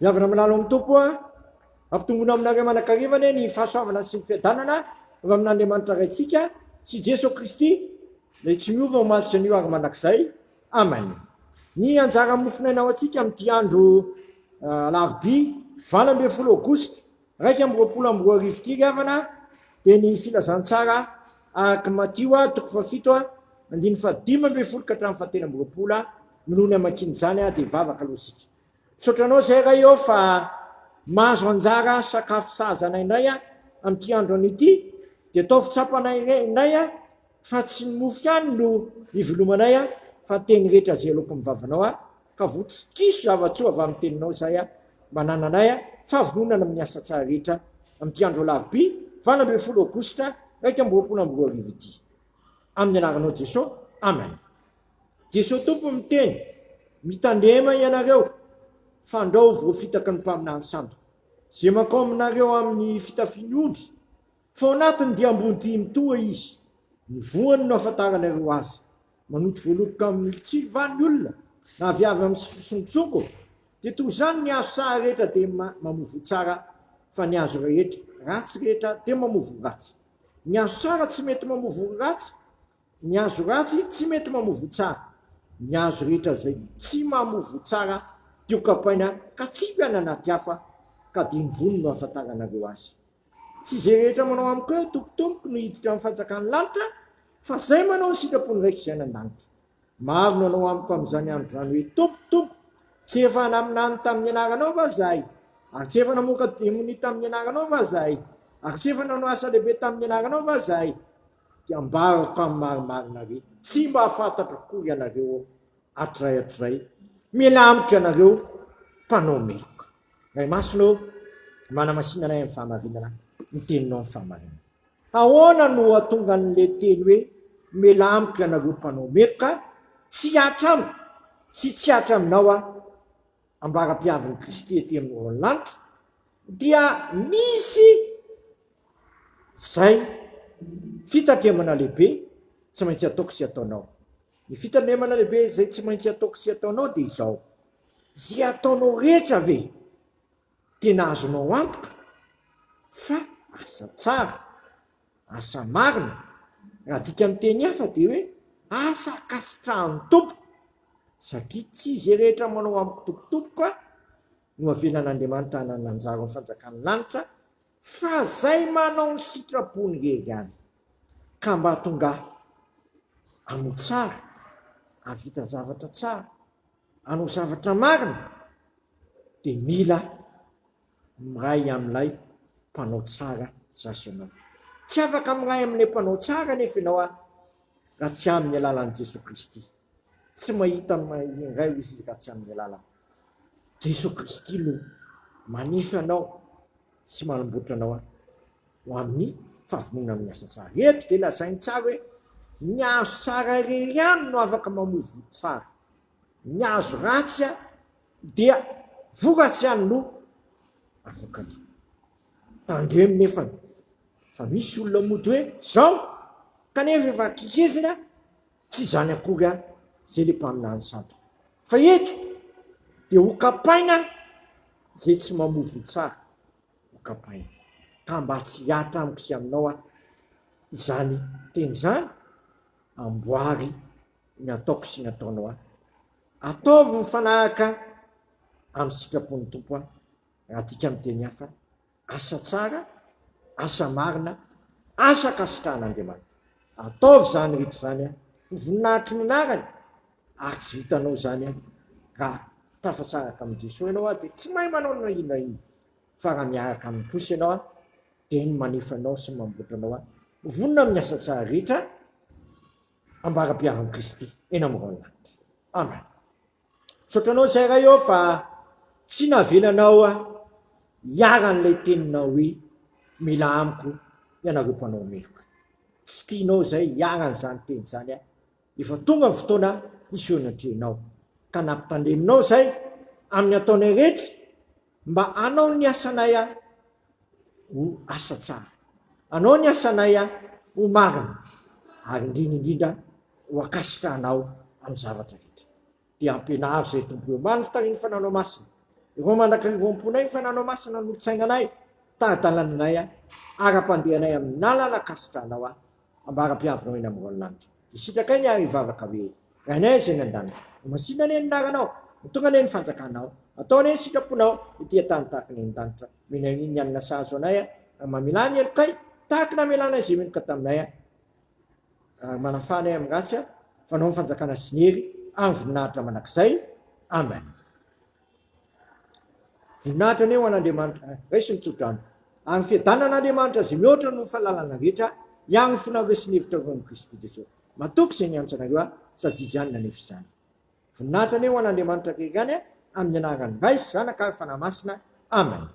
Miavona milalo amin'ny tompo a. Ampitongona aminareo manakariva anie ny fahasoavana sy ny fiadanana avy amin'Andriamanitra Raintsika sy Jeso Kristy izay tsy miova omaly sy anio ary mandrakizay. Amen. Ny anjara mofon'aina ho antsika amin'ity andro alarobia valo ambin'ny folo aogositra Iraika amby roapolo amby roa arivo ity ry havana dia ny filazantsara araka Matio toko fahafito andininy fahadimy ambin'ny folo ka hatramin'ny fahatelo amby roapolo no ny hamakiana izany dia vavaka aloha isika. Misaotra anao izay Ray ô fa mahazo anjara sakafo sahaza anay indray amin'ity andro anio ity dia ataovy tsapanay indray Fa tsy ny mofo ihany no ivelomanay a, fa ny teny rehetra izay aloako amin'ny vavanao a, ka voa tsy kiso zava-tsoa avy amin'ny teninao izahay a, manana anay a, fahavononana amin'ny asa tsara rehetra, amin'ity andro alarobia valo ambin'ny folo aogositra iraika amby roapolo amby roa arivo ity. Amin'ny anaranao Jeso, amen. Jeso Tompo miteny, mitandrema ianareo, fandrao voafitaky ny mpaminany sandoka, izay makao aminareo amin'ny fitafian'ny ondry, Fa ao anatin'ny dia ambony dia mitoha izy, ny voany no ahafantaranareo azy. Manoto voaloboka amin'ny tsilo va ny olona, na avy avy amin'ny sompitsonko? Dia toy izany ny hazo saha rehetra dia mamovo tsara, fa ny hazo rehetra ratsy rehetra dia mamovo ratsy. Ny hazo tsara tsy mety mamovo ratsy, ny hazo ratsy tsy mety mamovo tsara. Ny hazo rehetra izay tsy mamovo tsara dia hokapaina katsipy any anaty afo, ka dia ny voany no ahafantaranareo azy. Tsy izay rehetra manao amiko hoe, Tompoko, Tompoko, no hiditra amin'ny fanjakan'ny lanitra, fa izay manao ny sitrapon'ny Raiko izay any an-danitra. Maro no hanao amiko amin'izany andro izany hoe, Tompoko, Tompoko, tsy efa naminany tamin'ny anaranao va izahay? Ary tsy efa namoaka demonia tamin'ny anaranao va izahay? Ary tsy efa nanao asa lehibe tamin'ny anaranao va izahay? Dia ambarako amin'ny marimarina hoe, Tsy mba fantatro akory ianareo aho, hatrizay hatrizay. Miala amiko ianareo mpanao meloka! Ray Masina ô, manamasina anay amin'ny fahamarinana, ny Teninao ny fahamarinana. Ahoana no hahatonga an'ilay teny hoe mialà amiko ianareo mpanao meloka, tsy hihatra amiko sy tsy hihatra aminao aho, ambaram-piavin'i Kristy ety amin'ny lanitra, dia misy izay fitatemana lehibe tsy maintsy ataoko sy ataonao. Ny fitandremana lehibe izay tsy maintsy ataoko sy ataonao dia izao, izay ataonao rehetra ve tena azonao antoka fa asa tsara, asa marina? Raha adika amin'ny teny hafa dia hoe asa ankasitrahan'ny Tompo, satria tsy izay rehetra manao amiko tompotompoka no avelan'Andriamanitra hanana anjara ao fanjakan'ny lanitra Fa zay manao ny sitrapony re ihany ka mba tongaha amo tsara avita zavatra tsara anao zavatra marina de mila miray amilay mpanao tsara zasy ianao tsy afaka miray amilay mpanao tsara nefa ianao a raha tsy aminy alalan'i Jesoa Kristy tsy mahita indray izy raha tsy aminy alalany Jesoa Kristy no manefy anao sy manamboatra anao ho amin'ny fahavononana amin'ny asa tsara. Eto dia lazainy tsara hoe ny azo tsara irery ihany no afaka mamoa voa tsara. Ny azo ratsy dia voratsy ihany no avokany. Tandremo nefany fa misy olona mody hoe zao kanefa efa kikizina Tsy izany akory an! Izay ilay mpaminany sandoka. Fa eto dia hokapaina izay tsy mamoa voa tsara, hokapaina. Ka mba tsy hihatra amiko sy aminao an! izany teny izany, amboary ny ataoko sy ny ataonao an! Ataovy mifanaraka amin'ny sitrapon'ny Tompo an! Raha adika amin'ny teny hafa, asa tsara, asa marina, asa ankasitrahan'Andriamanitra. Ataovy izany rehetra izany an, ho voninahitry ny anarany, ary tsy vitanao izany an, raha tafatsaraka amin'i Jesoa ianao an, dia tsy mahay manao na inona na inona, fa raha miaraka aminy kosa ianao an, dia ny manefa anao sy ny mamboatra anao an, vonona amin'ny asa tsara rehetra ambara-piavin'i Kristy eny amin'ny rahon'ny lanitra. Amen. Tsapanao izay Ray ô fa tsy navelanao hiharan'ilay teninao hoe mila amiko ianareo mpanao meloka. Tsy tianao izay hiharan'izany teny izany aho. Efa tonga ny fotoana hiseho ny atrehinao. Ka nampitandreminao izay amin'ny ataonay rehetra Mba anao ny asanay a ho asa tsara, anao ny asanay a ho marina, ary indrindra indrindra ho ankasitrahanao amin'ny zavatra rehetra. Dia ampianaro izay Tompo eo. Mba an'Ry Tahin'ny Fananao Masina, ireo mandrakariva ao am-ponay ny Fananao Masina hanolotsaina anay, tari-dalananay, ara-pandehanay amin'ny lalana ankasitrahanao a, Ambara-pihavinao eny amin'ny raolinanitra. Dia sitrakay ny ary hivavaka hoe, Rainay izay any an-danitra, ho masinina anie ny anaranao, ho tonga anie ny fanjakanao, atao anie ny sitraponao ety an-tany tahaka ny any an-danitra. Omena anio ny hanina sahazo anay ary mamelà ny helokay tahaka ny namelanay izay meloka taminay ary manafaha anay amin'ny ratsy. Fanao ny fanjakana sy ny hery ary ny voninahitra mandrakizay. Amen. Voninahitra anie ho an'Andriamanitra eh, raiso ny tsodrano. Ary ny fiadanan'Andriamanitra izay mihoatra noho ny fahalalana rehetra hiaro ny fonareo sy ny hevitrareo amin'i Kristy Jesoa. Matoky izay niantso anareo aho, sady Izy ihany nanefa izany. Voninahitra anie ho an'Andriamanitra rery ihany eh, amin'ny anaran'ny Ray sy Zanaka ary Fanahy Masina. Amen.